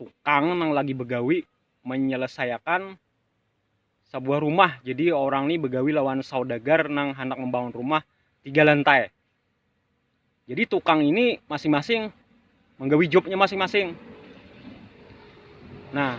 tukang nang lagi begawi menyelesaiakan sebuah rumah. Jadi orang ni begawi lawan saudagar nang hendak membangun rumah tiga lantai. Jadi tukang ini masing-masing menggawi jobnya masing-masing. Nah,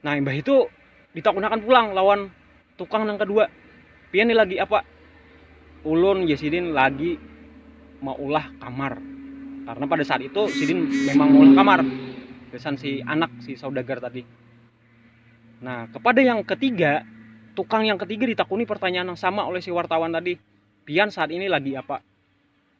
Nah, imbah itu ditakunakan pulang lawan tukang nang kedua. Pian ni lagi apa? Ulun ya sidin lagi maulah kamar. Karena pada saat itu sidin memang maulah kamar. Kesan si anak si saudagar tadi. Nah, kepada yang ketiga, tukang yang ketiga ditakuni pertanyaan yang sama oleh si wartawan tadi. Pian saat ini lagi apa?